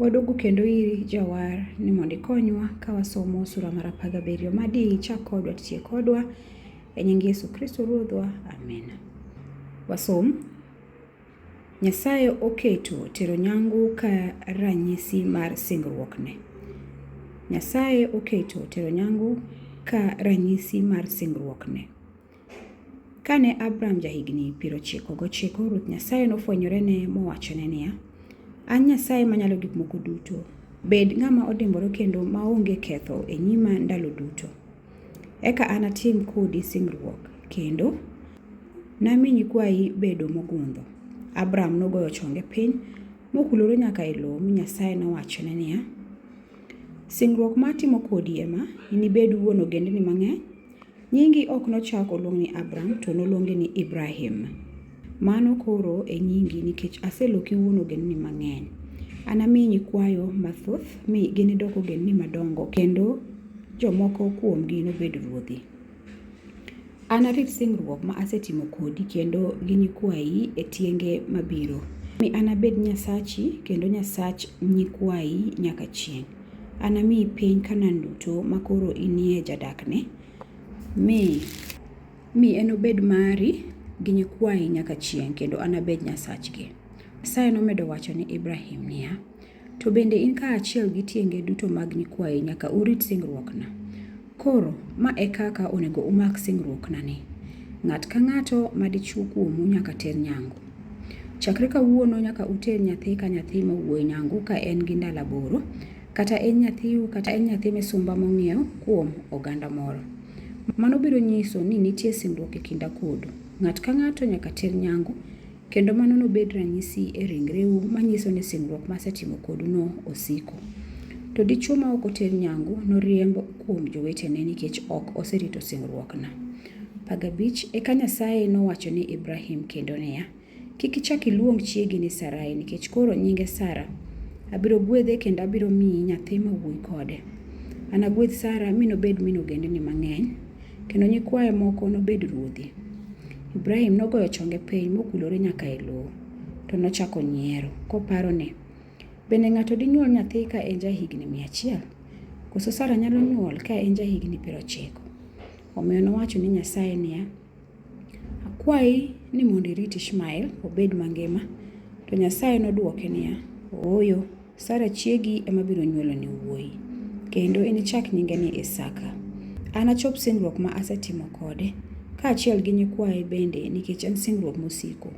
Waduogo kendo iri Jawar ni mondo ikonywa ka wasomo sura mar apar gabiriyo ma di ichak kodwa titie kodwa e nying Yesu Kristo Ruodhwa. Amen. Wasom. Nyasaye oketo tero nyangu ka ranyisi mar singruokne. Nyasaye oketo tero nyangu ka ranyisi mar singruokne. Kane Abram jahigni piero chiko gochiko, Ruoth Nyasaye nofwenyorene mowachone niya, An Nyasaye manyalo gik moko duto. Bed ng'ama odimbore kendo maonge ketho e nyima ndalo duto. Eka anatim kodi singruok, kendo nami nyikwayi bedo mogundho. Abram nogoyo chonge piny, mokulore nyaka e lowo, mi Nyasaye nowachone niya, Singruok ma atimo kodi ema, inibed wuon ogendini mang'eny. Nyingi ok nochak oluong ni Abram, to noluongi ni Ibrahim. Mano koro e nyingi, nikech aseloki wuon ogendni mang'eny. Anami nyikwayo mathoth, mi ginidok ogendni madongo, kendo jomoko kuomgi nobed ruodhi. Anarit singruok ma asetimo kodi kendo gi nyikwayi e tienge mabiro, mi anabed Nyasachi kendo Nyasach nyikwayi nyaka chieng'. Anamiyi piny Kanaan duto makoro inie jadakne, mi Mi enobed mari gi nyikwayi nyaka chieng' kendo anabed Nyasachgi. Nyasaye nomedo wacho ni Ibrahim niya, To bende in kaachiel gi tienge duto mag nyikwayi nyaka urit singruokna. Koro, ma e kaka onego umak singruoknani. Ng'at ka ng'ato ma dichwo kuomu nyaka ter nyangu. Chakre kawuono nyaka uter nyathi ka nyathi ma wuoyi nyangu ka en gi ndalo aboro, kata en nyathiu kata en nyathi misumba mong'iew kuom oganda moro. Mano biro nyiso ni nitie singruok e kinda kodu. Ng'at ka ng'ato nyaka ter nyangu, kendo mano nobed ranyisi e ringreu manyiso ni singruok masetimo koduno osiko. To dichwo ma ok oter nyangu noriemb kuom jowetene nikech ok oserito singruokna. Pag abich, Eka Nyasaye nowacho ni Ibrahim kendo niya, Kik ichak iluong chiegi ni Sarai, nikech koro nyinge Sara. Abiro gwedhe kendo abiro miyi nyathi ma wuoyi kode. Anagwedh Sara mi nobed min ogendni mang'eny, kendo nyikwaye moko nobed ruodhi. Ibrahim nogoyo chonge piny mokulore nyaka e lowo, to nochako nyiero, koparo ni, Bende ng'ato dinyuol nyathi ka en jahigni mia achiel? Koso Sara nyalo nyuol ka en jahigni piero ochiko? Omiyo nowacho ni Nyasaye niya, Akwayi ni mondo irit Ishmael obed mangima. To Nyasaye nodwoke niya, Ooyo, Sara chiegi ema biro nywoloni wuoyi, kendo inichak nyinge ni Isaka. Anachop singruok ma asetimo kode, kaachiel gi nyikwaye bende nikech en singruok mosiko.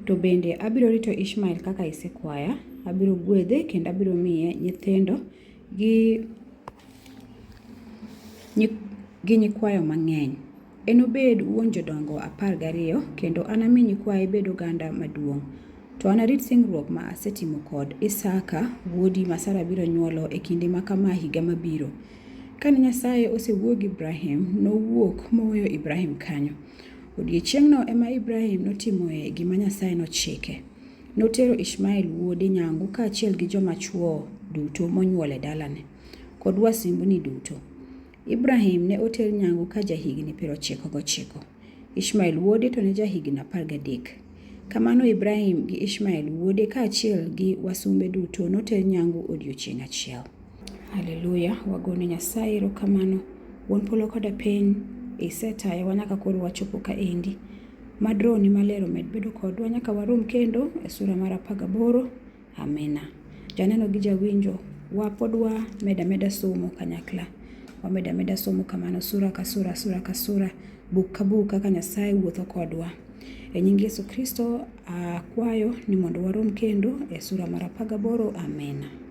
To bende abiro rito Ishmael kaka isekwaya, abiro gwedhe kendo abiro miye nyithindo gi, gi nyikwayo mang'eny. Enobed wuon jodongo apar gariyo, kendo anami nyikwaye bed oganda maduong'. To anarit singruok ma asetimo kod Isaka wuodi ma Sara biro nyuolo e kinde ma kama higa mabiro. Kane Nyasaye osewuo gi Ibrahim, nowuok moweyo Ibrahim kanyo. Odiechieng'no ema Ibrahim notimoe gima Nyasaye nochike. Notero Ishmael wuode nyangu kaachiel gi joma chwo duto monyuol e dalane, kod wasimbni duto. Ibrahim ne oter nyangu ka jahigni piero ochiko gochiko. Ishmael wuode to ne jahigni apar gadek. Kamano Ibrahim gi Ishmael wuode kaachiel gi wasumbe duto noter nyangu odiechieng' achiel. Haleluya, wagone Nyasaye erokamano. Wuon polo koda piny, isetayowa nyaka koro wachopo kaendi. Mad rohoni maler omed bedo kodwa nyaka warom kendo e sura mar apar gaboro. Amina. Janeno gi jawinjo, wapod wamedo ameda somo kanyakla. Wamedo ameda somo kamano sura ka sura, sura ka sura, buk ka buk kaka Nyasaye wuotho kodwa. E nying Yesu Kristo akwayo ni mondo warom kendo e sura mar apar gaboro. Amina.